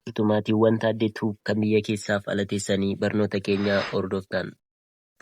Utuu maatiiwwan Taaddee Tube kan biyya keessaaf ala teessanii barnoota keenya hordoftan.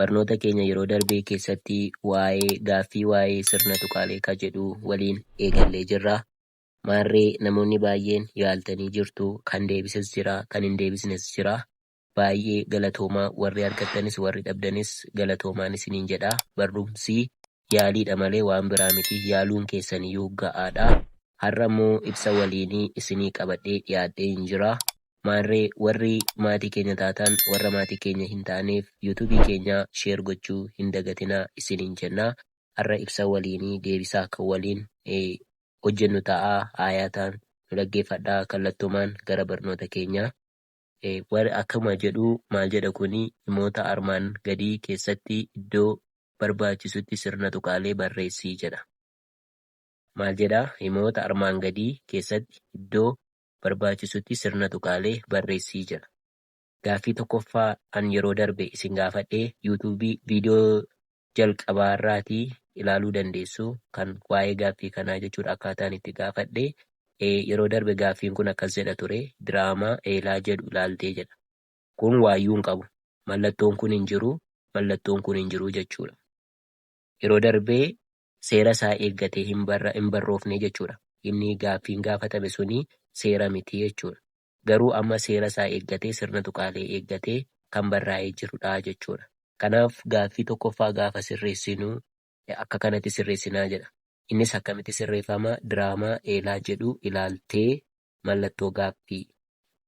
Barnoota keenya yeroo darbee keessatti waa'ee gaaffii waa'ee sirna tuqaalee ka jedhuu waliin eegallee jirra. Maarree namoonni baay'een yaaltanii jirtu, kan deebises jira, kan hin deebisnes jira. Baay'ee galatoomaa warri argattanis warri dhabdanis galatoomaan isiniin jedha. Barrumsi yaaliidha malee waan biraa miti. Yaaluun keessaniyyuu ga'aadha. Har'a immoo ibsa waliinii isinii qabadhee dhiyaadheen jira. Maarree warri maatii keenya taatan warra maatii keenya hin taaneef youtube keenya share gochuu hin dagatinaa isiniin jenna. Har'a ibsa waliinii deebisaa kan waliin hojjennu ta'a. Aayaataan nu dhaggeeffadhaa kallattumaan gara barnoota keenyaa. Warri akkuma jedhu maal jedha kuni himoota armaan gadii keessatti iddoo barbaachisutti sirna tuqaalee barreessi jedha. Maal jedha? Himoota armaan gadii keessatti iddoo barbaachisutti sirna tuqaalee barreessi jedha. Gaaffii tokkoffaa an yeroo darbe isin gaafadhe YouTube video jalqabaarraatii ilaaluu dandeessu kan waa'ee gaaffii kanaa jechuudha akkaataan itti gaafadhe yeroo darbe gaaffiin kun akkas jedha ture diraamaa eelaa jedhu ilaaltee jedha kun waayyuu hin qabu mallattoon kun hin jiru mallattoon kun hin jiru jechuudha yeroo darbee seera isaa eeggatee hin barroofne jechuudha inni gaaffiin gaafatame suni seera miti jechuudha garuu amma seera isaa eeggatee sirna tuqaalee eeggatee kan barraa'ee jiru dha jechuu dha. Kanaaf gaaffii tokkoffaa gaafa sirreessinu akka kanatti sirreessina jedha. Innis akkamitti sirreeffama? Diraamaa Eelaa jedhu ilaaltee mallattoo gaaffii.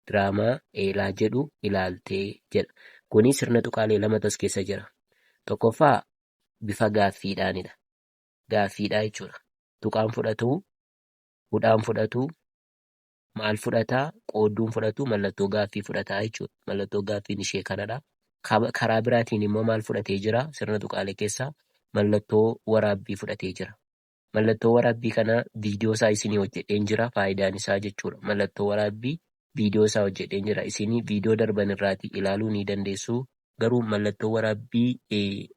Diraamaa Eelaa jedhu ilaaltee jedha. Kuni sirna tuqaalee lamatu as keessa jira. Tokkoffaa bifa gaaffiidhaani dha. Gaaffiidha jechuu dha. Tuqaan fudhatu, hudhaan fudhatu, maal fudhataa? Qoodduun fudhatu mallattoo gaaffii fudhataa jechuudha. Mallattoo gaaffiin ishee kanadha. Kab- Karaa biraatiin immoo maal fudhatee jira? Sirna tuqaalee keessaa mallattoo waraabbii fudhatee jira. Mallattoo waraabbii kana viidiyoo isaa isinii hojjedheen jira. Faayidaan isaa jechuudha. Mallattoo waraabbii viidiyoo isaa hojjedheen jira. Isinii viidiyoo darban irraatii ilaaluu ni dandeessu. Garuu mallattoo waraabbii eh,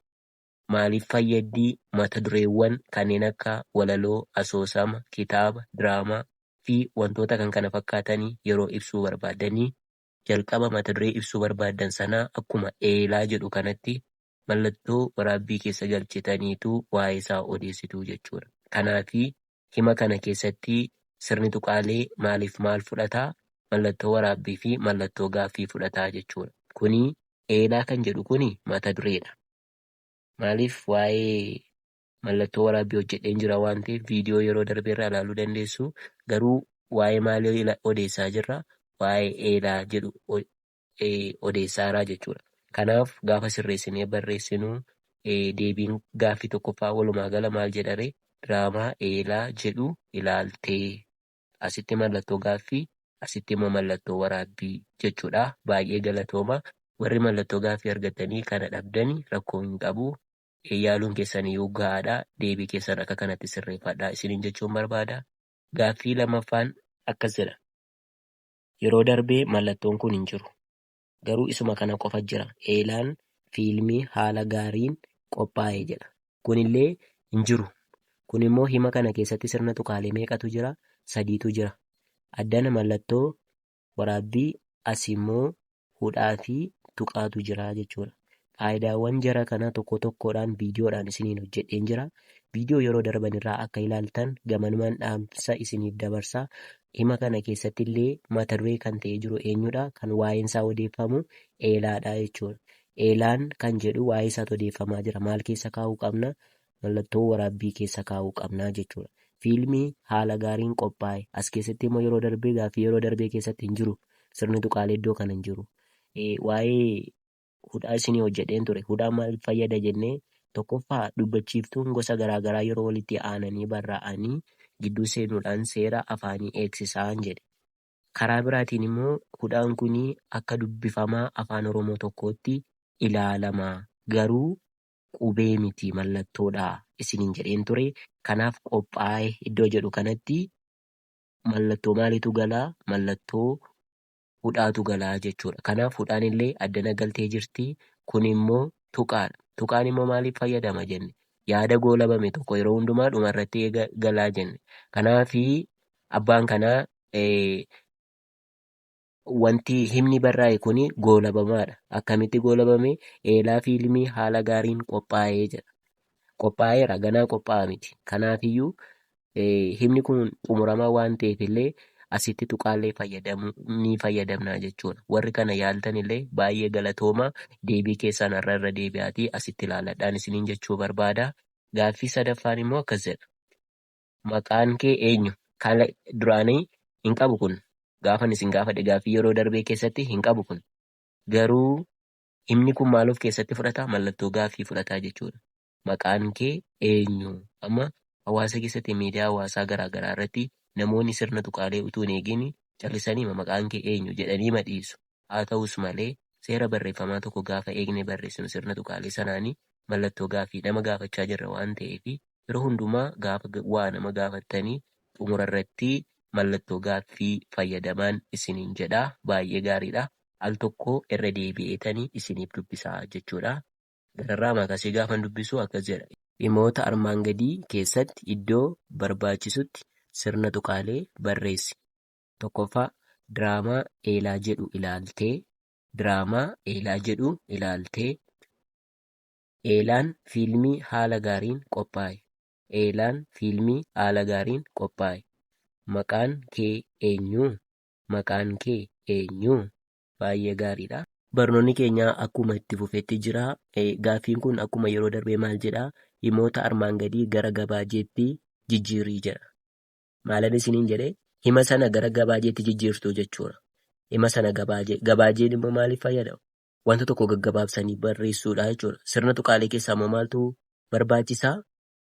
Maaliif fayyaddi? Mata dureewwan kanneen akka walaloo, asoosama, kitaaba, diraamaa, fi wantoota kan kana fakkaatani yeroo ibsuu barbaaddani, jalqaba mata duree ibsuu barbaaddan sanaa akkuma eelaa jedhu kanatti mallattoo waraabbii keessa galchitaniitu waa'ee isaa odeessitu jechuu dha. Kanaafi, hima kana keessatti sirni tuqaalee maaliif maal fudhata? Mallattoo waraabbii fi mallattoo gaaffii fudhata jechuu dha. Kuni eelaa kan jedhu kuni mata duree dha. Maaliif waa'ee mallattoo waraabbii hojjedheen jira waan ta'eef viidiyoo yeroo darbe irraa ilaaluu dandeessu. Garuu waa'ee maalii odeessaa jirra? Waa'ee eelaa jedhu odeessaaraa jechuudha. Kanaaf gaafa sirreessinee barreessinu deebiin gaaffii tokkoffaa walumaa gala maal jedhare? Diraamaa eelaa jedhu ilaaltee. asitti mallattoo gaaffii asitti immoo mallattoo waraabbii jechuudha baay'ee galatooma warri mallattoo gaaffii argattanii kana dhabdani rakkoo hin qabu yaaluun keessan iyyuu ga'aadha deebii keessan akka kanatti sirreeffadha isiniin jechuun barbaada gaaffii lamaffaan akkas jedha yeroo darbee mallattoon kun hin jiru garuu isuma kana qofa jira eelaan fiilmii haala gaariin qophaa'e jedha. Kun illee hin jiru. Kun immoo hima kana keessatti sirna tuqaalee meeqatu jira? Sadiitu jira. Addana mallattoo waraabbii, asi immoo hudhaa fi tuqaatu jira jechuudha. Qaayidaawwan jara kanaa tokko tokkoodhaan viidiyoodhaan isiniin hojjedheen jira. Viidiyoo yeroo darban irraa akka ilaaltan gamanumaan dhaamsa isiniif dabarsa. Hima kana keessatti illee mata duree kan ta'ee jiru eenyudha? Kan waa'een isaa odeeffamu eelaadha jechuudha. Eelaan kan jedhu waa'ee isaatu odeeffamaa jira. Maal keessa kaa'uu qabna? Mallattoo waraabbii keessa kaa'uu qabna jechuudha. Fiilmii haala gaariin qophaa'e. As keessatti immoo yeroo darbee gaaffii yeroo darbee keessatti hin jiru. Sirni tuqaalee iddoo kana hin jiru. Waa'ee hudhaa isinii hojjedheen ture. Hudhaan maaliif fayyada jennee tokkoffaa dubbachiiftuun gosa garaagaraa yeroo walitti aananii barraa'anii gidduu seenuudhaan seera afaanii eegsisaan jedhe. Karaa biraatiin immoo hudhaan kun akka dubbifamaa afaan Oromoo tokkootti ilaalama. Garuu qubee miti mallattoodha isiniin jedheen ture. Kanaaf qophaa'e iddoo jedhu kanatti mallattoo maaliitu gala? Mallattoo hudhaatu gala jechuudha. Kanaaf hudhaan illee addana galtee jirti. Kun immoo tuqaadha. Tuqaan immoo maaliif fayyadama jenne? Yaada goolabame tokko yeroo hundumaa dhuma irratti eega galaa jenne. Kanaaf abbaan kanaa wanti himni barraa'e kun goolabamaadha. Akkamitti goolabame? Eelaa fi ilmi haala gaariin qophaa'ee jedha. Qophaa'eera ganaa qophaa'aa miti. Kanaafiyyuu himni kun xumuramaa waan ta'eef illee asitti tuqaallee fayyadamu ni fayyadamna jechuudha. Warri kana yaaltan illee baay'ee galatooma deebii keessaan har'a irra deebi'aatii asitti ilaaladhaan isiniin jechuu barbaada. Gaaffii sadaffaan immoo akkas jedha. Maqaan kee eenyu? Kan duraanii hin qabu kun. Gaafan isin gaafadhe gaaffii yeroo darbee keessatti hin qabu kun. Garuu himni kun maal of keessatti fudhata? Mallattoo gaaffii fudhataa jechuudha. Maqaan kee eenyu? Amma hawaasa keessatti miidiyaa hawaasaa garaa garaa irratti namoonni sirna tuqaalee utuu hin eegin callisaniima maqaan kee eenyu? jedhaniima dhiisu. Haa ta'us malee, seera barreeffamaa tokko gaafa eegnee barreessinu sirna tuqaalee sanaan mallattoo gaaffii nama gaafachaa jirra waan ta'eef yeroo hundumaa gaafa waa nama gaafattan xumura irratti mallattoo gaaffii fayyadamaan isiniin jedha. Baay'ee gaariidha. Al tokko irra deebi'eetan isiniif dubbisa jechuudha. Gararraa Makasee gaafan dubbisu akkas jedha. Himoota armaan gadii keessatti iddoo barbaachisutti sirna tuqaalee barreessi. 1ffaa, Diraamaa Eelaa jedhu ilaaltee. Diraamaa Eelaa jedhu ilaaltee. Eelaan fiilmii haala gaariin qophaa'e. Eelaan fiilmii haala gaariin qophaa'e. Maqaan kee eenyu? Maqaan kee eenyu? baay'ee gaariidha. Barnoonni keenya akkuma itti fufetti jira. Gaaffiin kun akkuma yeroo darbee maal jedha? Himoota armaan gadii gara gabaajeetti jijjiirii jedha. Maalan isiniin jedhe hima sana gara gabaajeetti jijjiirtuu jechuudha. Hima sana gabaajee. Gabaajeen immoo maaliif fayyada? Wanta tokko gaggabaabsanii barreessuudha jechuudha. Sirna tuqaalee keessaa immoo maaltu barbaachisa?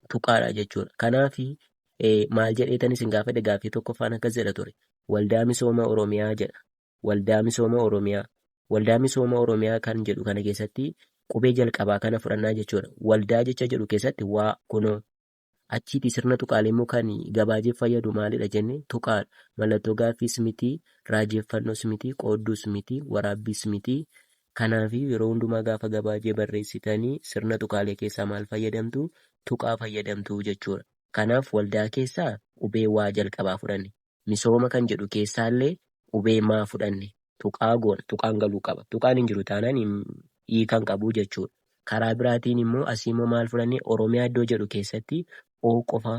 tuqaadha jechuudha. Kanaaf maal jedheetan isin gaafadhe gaaffii tokkoffaan akkas jedha ture. Waldaa misooma Oromiyaa jedha. Waldaa misooma Oromiyaa. Waldaa misooma Oromiyaa kan jedhu kana keessatti qubee jalqabaa kana fudhannaa jechuudha. Waldaa jecha jedhu keessatti waa kunoo achiiti sirna tuqaalee immoo kan gabaajeef fayyadu maalidha jenne tuqaadha. Mallattoo gaaffiis miti, raajeffannoos miti, qoodduus miti, waraabbiis miti, Kanaafiyyuu yeroo hundumaa gaafa gabaajee barreessitan sirna tuqaalee keessaa maal fayyadamtu? Tuqaa fayyadamtu jechuudha. Kanaaf waldaa keessaa qubee waa jalqabaa fudhanne. Misooma kan jedhu keessaallee qubee maa fudhanne. Tuqaa goona. Tuqaan galuu qaba. Tuqaan hin jiru taanaan hiika hin qabu jechuudha. Karaa biraatiin immoo asiimmoo maal fudhanne? Oromiyaa iddoo jedhu keessatti o qofa.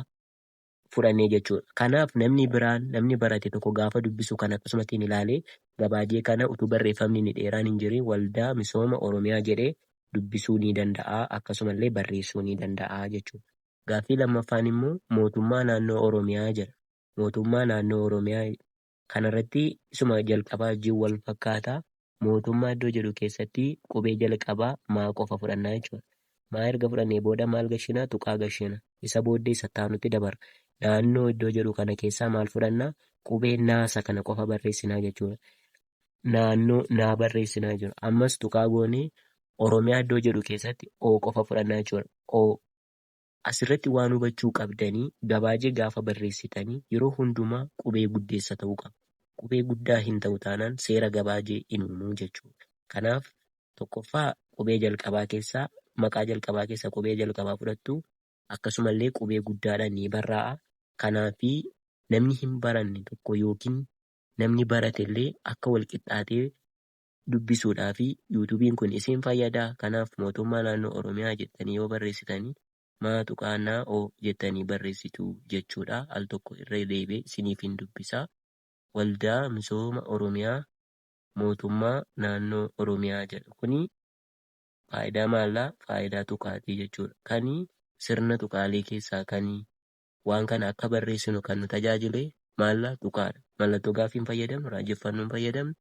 fudhannee jechuudha. Kanaaf namni biraan, namni barate tokko gaafa dubbisu kana akkasumatti hin ilaalee gabaajee kana utuu barreeffamni inni dheeraan hin jirin Waldaa Misooma Oromiyaa jedhee dubbisuu ni danda'a akkasumallee barreessuu ni danda'a jechuudha. Gaaffii lammaffaan immoo mootummaa naannoo Oromiyaa jedha. Mootummaa naannoo Oromiyaa. Kana irratti isuma jalqabaa wajjin wal fakkaata. Mootummaa iddoo jedhu keessatti qubee jalqabaa maa qofa fudhanna jechuudha. Maa erga fudhannee booda maal gashina? Tuqaa gashina. Isa booddee isa itti aanutti dabarra. Naannoo iddoo jedhu kana keessaa maal fudhanna? Qubee naa isa kana qofa barreessina jechuudha. Naannoo naa barreessina jechuudha. Ammas tuqaa goonee Oromiyaa iddoo jedhu keessatti O qofa fudhanna jechuudha. O. Asirratti waan hubachuu qabdani gabaajee gaafa barreessitani yeroo hundumaa qubee guddeessa ta'uu qaba. Qubee guddaa hin ta'u taanaan seera gabaajee hin uumu jechuudha. Kanaaf, tokkoffaa qubee jalqabaa keessaa maqaa jalqabaa keessaa qubee jalqabaa fudhattu. Akkasumallee qubee guddaadhaan ni barraa'a. Kanaaf, namni hin baranne tokko yookiin namni baratellee akka walqixxaatee dubbisuudhaafi youtubin kun isiin fayyadaa kanaaf mootummaa naannoo oromiyaa jettanii yoo barreessitani maa tuqaa na o jettanii barreessituu jechuudhaa al tokko irra deebi'e isiniifin dubbisaa waldaa misooma oromiyaa mootummaa naannoo oromiyaa jedha kuni faayidaa maallaa faayidaa tuqaatii jechuudha kani sirna tuqaalee keessaa kani waan kana akka barreessinu kan nu tajaajile maallaa tuqaadha mallattoo gaaffiin fayyadamnu raajeffannoon fayyadamnu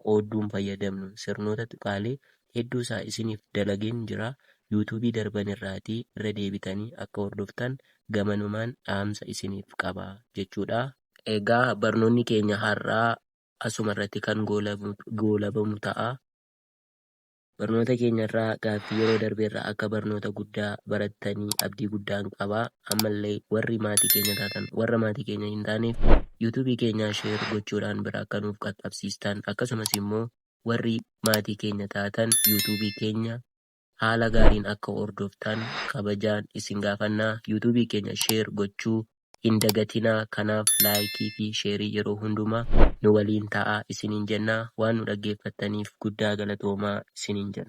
qoodduun fayyadamnu sirnoota tuqaalee hedduu isaa isiniif dalageen jira youtube darban irraatii irra deebitanii akka hordoftan gamanumaan dhaamsa isiniif qaba jechuudha. Egaa barnoonni keenya har'aa asuma irratti kan goolabamu ta'a. Barnoota keenya irraa gaaffii yeroo darbe irraa akka barnoota guddaa barattanii abdii guddaan qaba. Ammallee warri maatii keenya taatan warra maatii keenya hin taaneef YouTube keenyaa share gochuudhaan bira akka nuuf qaqqabsiistan akkasumas immoo warri maatii keenya taatan YouTube keenya haala gaariin akka hordoftan kabajaan isin gaafanna. YouTube keenya share gochuu hin dagatinaa kanaaf like fi share yeroo hundumaa nu waliin ta'aa isiniin jennaa waan nu dhaggeeffattaniif guddaa galatoomaa isiniin jenna.